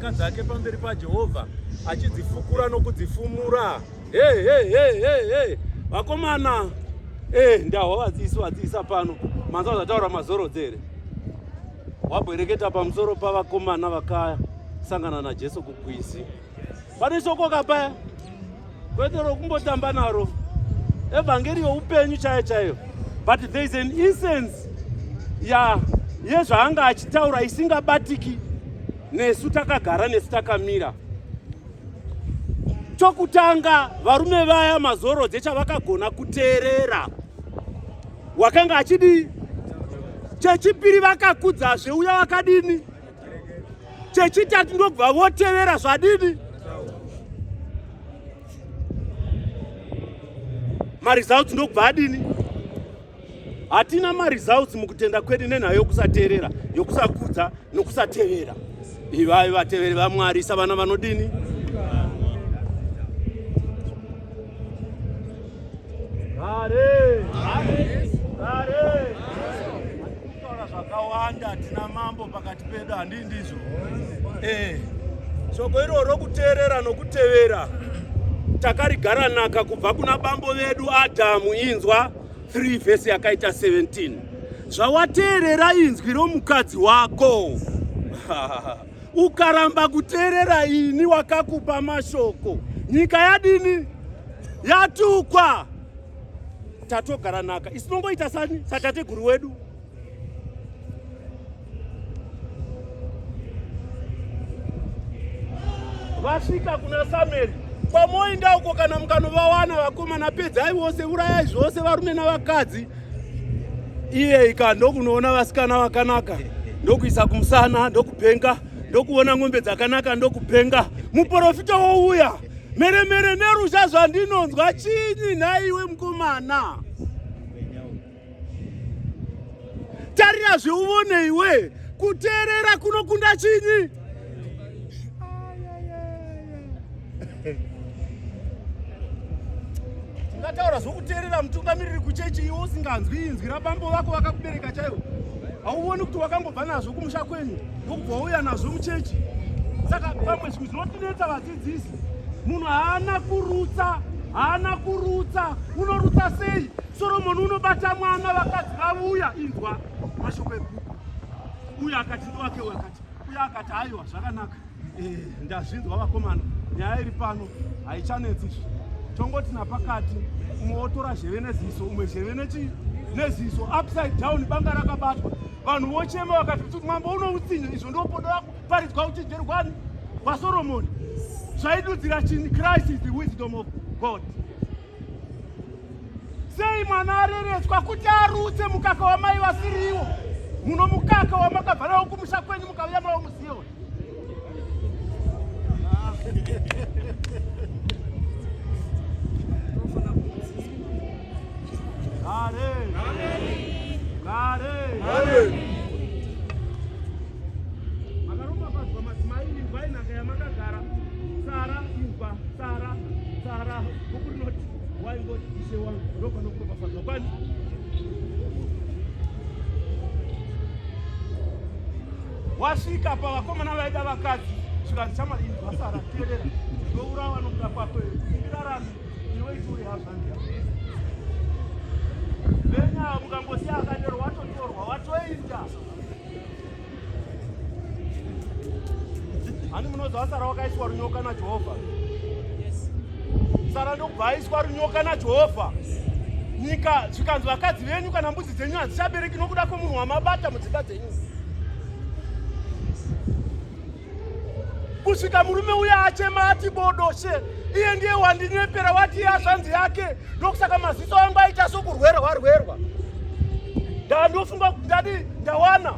Ka dzake pamberi paJehovha achidzifukura nokudzifumura. Hey, hey, hey, hey, hey. Vakomana hey, eh, ndahwa vadzisi vadzisa pano manzwa zvataura mazorodzere wabwereketa pamusoro pavakomana vakasangana naJesu kukwizi pane shoko kapaya kwete rokumbotamba naro evhangeri youpenyu chaiyo chaiyo but there is an incense ya yezvaanga achitaura isingabatiki nesu takagara nesu takamira chokutanga varume vaya mazoro dzechavakagona kuteerera wakanga achidii chechipiri vakakudzazve uya wakadini chechitatu ndokubva votevera zvadini maresults ndokubva adini hatina maresults mukutenda kwedu nenhau yokusateerera yokusakudza nokusatevera ivai vateveri vamwari savana vanodini Hare! Hare! Hare! Taura zvakawanda tina mambo pakati pedu handii ndizvo eh shoko iro rokuteerera nokutevera takarigara naka kubva kuna bambo vedu adhamu inzwa 3 vhesi yakaita 17 zvawateerera inzwi romukadzi wako ukaramba kuteerera ini wakakupa mashoko nyika yadini yatukwa tatogara naka isinongoita sani satateguru wedu vasvika kuna samueri kwamoinda uko kana mukanovawana vakomana pedzai vose urayai zvose varume navakadzi iye ika ndokunoona vasikana vakanaka ndokuisa kumusana ndokupenga ndokuona ng'ombe dzakanaka ndokupenga muporofita wouya Mheremhere nerusha zvandinonzwa chinyi nhaiwe mukomana? Tarira zveuvone iwe, kuteerera kunokunda chinyi? Ungataura zvokuteerera mutungamiriri kuchechi iwe usinganzwi inzwi rabambo vako vakakubereka chaivo. Hauvoni kuti wakangobva nazvo kumusha kwenyu ndokubva wauya nazvo muchechi. Saka pamwe zvinotinetsa vadzidzi Dzidzisi munhu haana kurutsa, haana kurutsa. Unorutsa sei? Soromoni unobata mwana, vakadzi vavuya. Inzwa mashoko ebhuku. Uye akati ndiwake, uye akati uye akati haiwa, zvakanaka. Eh, ndazvinzwa vakomana, nyaya iri pano haichanetsi izvi. Tongoti napakati umwe wotora zheve neziso, umwe zheve nechi neziso upside down, banga rakabatwa, vanhu vochema vakati kuti mambo unoutsinye, izvo ndopodo yako paridzwa uchenjeri kwani kwasoromoni zvaidudzira chini christ is the wisdom of god sei mwana areretswa kuti arutse mukaka wamai vasiriwo muno mukaka wamakabva nawo kumusha kwenyu mukauya mawo muzioni makaropafadzwa madzimai imvai nhaka yamakagara tsara imva tsara tsara buku rinoti waingoti ishe wangu ndopanokuropafadzwa kwani wasvika pavakomana vaida vakadzi zvikanzi chamwari ini vasara teerera ndourawa nokuda kwako kumbirarami ani munonzi asara wakaiswa runyoka najehovha sara ndokubva aiswa runyoka najehovha nyika zvikanzi vakadzi venyu kana mbudzi dzenyu hadzichabereki nokuda kwemunhu wamabata mudzimba dzenyu kusvika murume uya achema ati bodoshe iye ndiye wandinyepera wati iye azvanzi yake ndokusaka maziso angu aita sokurwera warwerwa ndandofunga kuti ndadi ndawana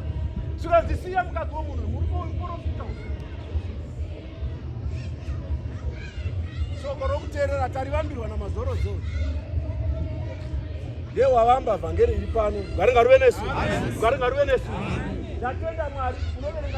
zvikazisiya mukadzi womunhu muriporofita shoko rokuteerera tarivambirwa namazorozoro ye wavamba vhangeri iri pano ngaringaruve nesu ngaringaruve nesu ndatenda mwari unoverenga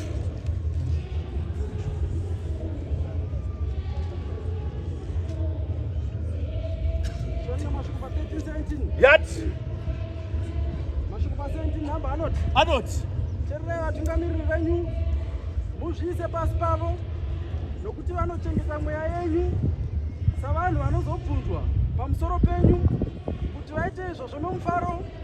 yati mashoko pasenti nhamba anoti anoti tererai vatungamiriri venyu muzviise pasi pavo nokuti vanochengeta mweya yenyu savanhu vanozobvunzwa pamusoro penyu kuti vaite izvozvo nomufaro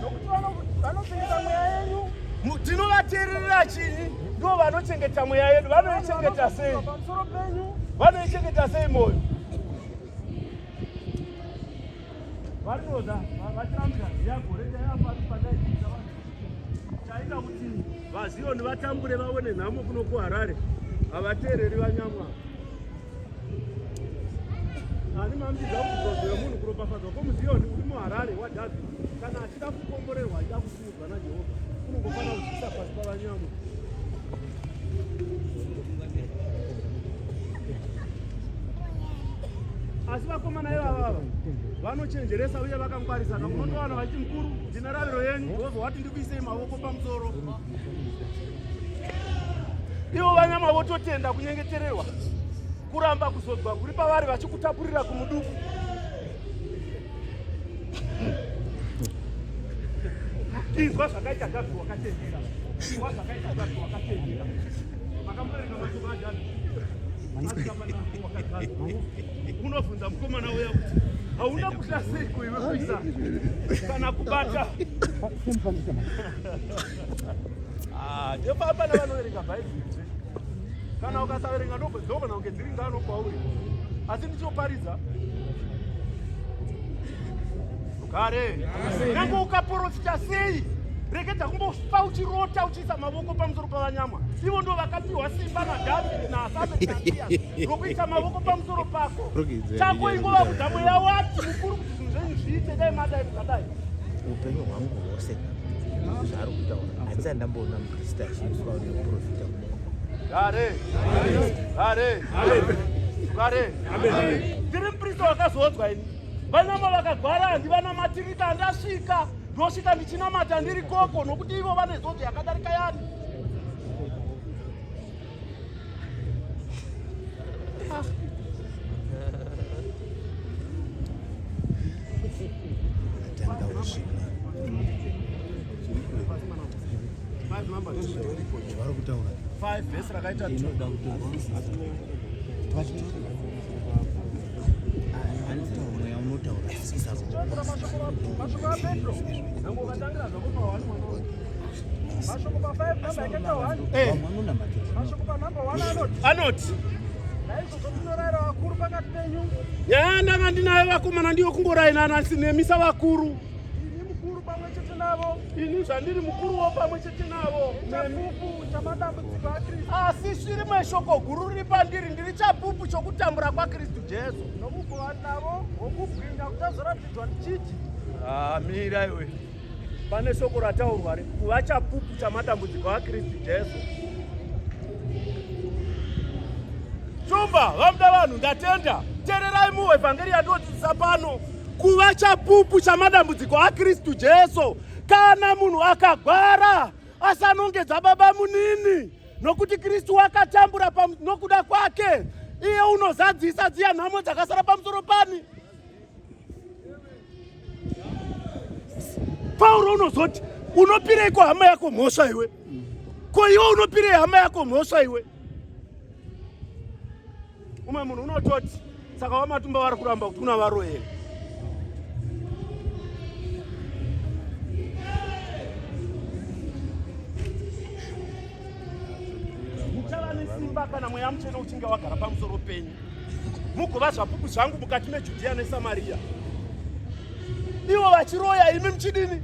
nokuti vanopengesa mweya yenyu tinovateerera chii ndivo vanochengeta mweya yedu vanoichengeta sei vanoichengeta sei moyo vanoda vatambira yagore chaita kuti vaziyoni vatambure vaone nhamo kuno kuharare havateereri vanyamwa ani mambiza kuzodzera munhu kuropafadzwa kwomuziyoni uri muharare wadhavhidhi kana achida kukomborerwa achida kusimudzwa najehovha unongofanira kuzvisa pasi pavanyamu asi vakomana ivavava vanochenjeresa uye vakangwarisana munotowana vachimukuru ndinarariro yenyu jehovha wati ndikuisei mavoko pamusoro ivo vanyama vototenda kunyengetererwa kuramba kuzodzwa kuri pavari vachikutapurira kumuduku inzwa zvakaita gazi wakatendera inzwa zvakaita gazi wakatendera makamurega machobajani Unobvunza mukomana uya kuti hauna kutya sei kuiwe kuisa kana kubata ah, ndepapa navanoverenga bhaibheri kana ukasaverenga ndobvedzogona kunge dziri ngano kwauri asi ndichoparidza kare nyange ukaporofita sei reketa kumbofa uchirota uchiisa mavoko pamusoro pavanyama ivo ndo vakapiwa simba nadhavidi naasaeaiya rokuisa mavoko pamusoro pako chako ingova kudza mweya wati mukuru kuti zvinhu zvenyu zviite dai madai zvakadai upenyu hwangu hwose zvaari kutaura handisati ndamboona muprista achiiswa neprofita kudare dare dare dare ndiri muprista wakazodzwa ini Vanama vakagwara handivanamatiripa andasvika ndosvika ndichinamata ndiri koko nokuti ivo vane zodzo yakadarika yani vari kutaura 5 vhesi rakaita 2 anoti yaa ndanga ndinayo vakomana ndiyo kungorainana nemisa vakuru Ini mukuru pamwe chete navo. Ini zvandiri mukuruwo pamwe chete navo. Chapupu chamadambudziko aKristu. Asi shiri meshoko guru riri pandiri ndiri chapupu chokutambura kwaKristu Jesu. Nokuva navo wokubwinya kuchazoratidzwa ndichiti. Ah, mira iwe. Pane shoko rataurwa re kuva chapupu chamadambudziko aKristu Jesu. Shumba, vamuda vanhu ndatenda. Tererai muevhangeri yandodzidzisa pano. kuva chapupu chamadambudziko akristu jesu kana munhu akagwara asanongedza baba munini nokuti kristu wakatambura nokuda kwake iye unozadzisa dziya nhamo dzakasara pamusoro pani pauro unozoti unopireiko hama yako mhosva iwe ko iwe unopirei hama yako mhosva iwe umwe munhu unototi saka wamatumba vari kuramba kuti una varoyeri muchava nesimba kana mweya muchena uchinge wagara pamusoro penyu mugova zvapupu zvangu mukati mejudhiya nesamariya ivo vachiroya imi muchidini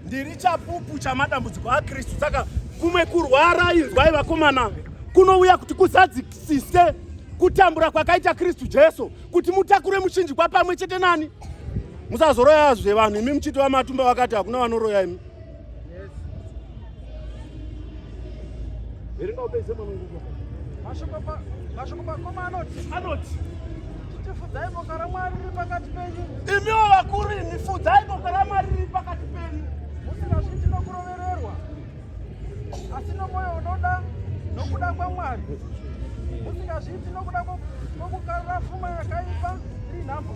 ndiri chapupu chamadambudziko akristu saka kumwe kurwara inzwai vakomana kunouya kuti kuzadzisise kutambura kwakaita kristu jesu kuti mutakure muchinjikwa pamwe chete nani musazoroyazve vanhu imi muchiti vamatumba vakati hakuna vanoroya imi Verenga upedze mwana nguva. Mashoko pa mashoko pa koma anoti anoti tifudzai boka raMwari riri pakati penyu. Imiwo vakuru imi fudzai boka raMwari riri pakati penyu. Musingazviti nokurovererwa asi nomwoyo unoda nokuda kwaMwari. Musingazviti nokuda kwokukarira fuma yakaipa iri nhamo.